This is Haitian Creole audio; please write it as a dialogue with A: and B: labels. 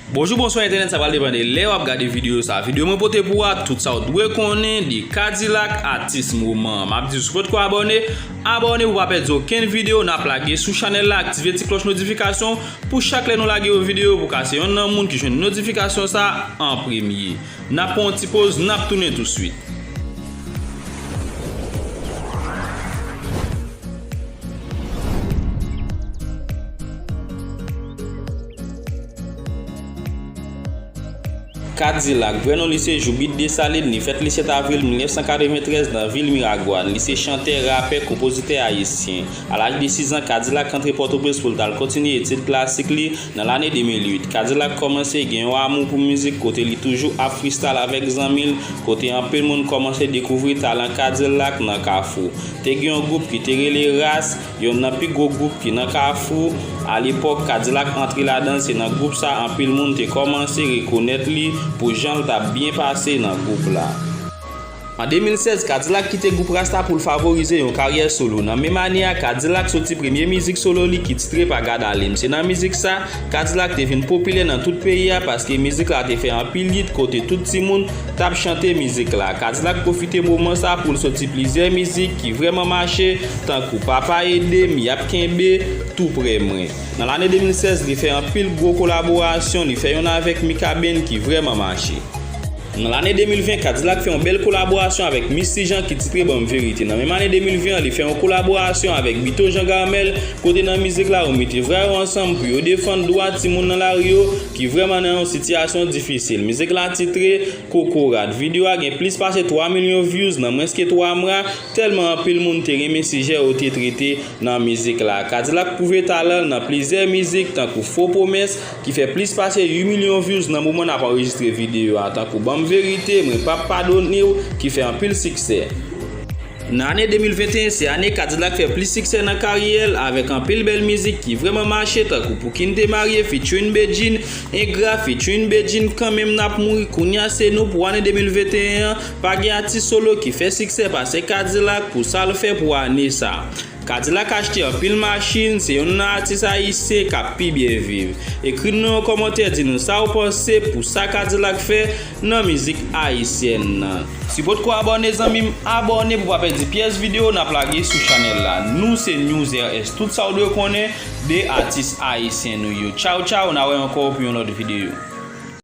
A: Bonjou bonswa entènèt sa pral depan de lè wap gade video sa video mwen pote pou a tout sa ou dwe konnen de kadilak atis moman an map di sou potko abòne abòne pou pa pèdi okenn video nap lage sou chanèl la aktive ti klòch notifikasyon pou chak lè nou lage yon video pou ka se yonn nan moun ki jwenn notifikasyon sa an premye nap pran yon ti poz nap tounen tou swit. Kadilak, vrè non li se Joubit Desalin, li fèt le 7 avril 1993 nan vil Miragwàn. Li se chantè, rapè, konpozitè ayisyen. A laj de 6 an, Kadilak antre Pòtoprens pou l t al kontinye etid klasik li. Nan lane 2008, Kadilak kòmanse gen yon amou pou mizik kote li toujou ap fristal avèk zanmi l, kote anpil moun kòmanse dekouvri talan Kadilak nan Kafou. Te gen yon gwoup ki te rele Ras, yonn nan pi gwo gwoup ki nan Kafou. A lepòk Kadilak antre ladan l se nan gwoup sa anpil moun te kòmanse rekonèt li pou jan l t ap byen pase nan gwoup la. An 2016, Kadilak kite gwoup Ras la pou l favorize yon karyè solo. Nan menm ane a, Kadilak soti premye mizik solo li ki titre pa gad ale m. Se nan mizik sa, Kadilak te vin popilè nan tout peyi a paske mizik la te fè anpil yit kote tout timoun, t ap chante mizik la. Kadilak pwofite moman sa pou l soti plizyè mizik ki vrèman mache tankou Papa ede m, Y ap kenbe, Tou prè mwen. Nan lane 2016 li fè anpil gwo kolaborasyon, li fè youn avèk Mikaben ki vrèman mache. Nan lane 2020, Kadilak fè yon bèl kolaborasyon avèk Misty Jean ki titre Banm Verite. Nan menm ane 2020 an li fè yon kolaborasyon avèk Bito Jean Garmel kote nan mizik la yo mete vra yo ansanm pou yo defann dwa timoun nan lari yo, ki vrèman nan yon sitiyasyon difisil. Mizik la titre, Kokorat. Video a gen plis pase 3 milyon views nan mwens ke 3 mwa, tèlman anpil moun te renmen sijè yo te trete nan mizik la. Kadilak pwouve talan l nan plizyè mizik tankou Fo Pwomès ki fè plis pase 8 milyon views nan moman n ap anrejistre video a tankou Banm Verite, Mwen Pap Padone w ki fè anpil siksè. Nan ane 2021 se ane Kadilak fè plis siksè nan karyè l avèk anpil bèl mizik ki vrèman mache tankou Pou Kin te marye featuring Bedjine, Engra featuring Bedjine, Kanmenm Nap Mouri Kounya Se Nou Pou ane 2021 an pa gen atis solo ki fè siksè pase Kadilak pou sa l fè pou ane sa. Kadilak achte anpil machin, se yonn nan atis ayisyen kap pi byen viv. Ekri n nan yon kòmantè di nou sa ou panse pou sa kadilak fè nan mizik ayisyen nan. Si potko abòne zanmi m abòne pou pa pèdi pyès video nap lage sou chanèl la nou se newsrs tout sa ou dwe konnen de atis ayisyen nou yo tchaw tchaw na wè ankò pou yon lòt video.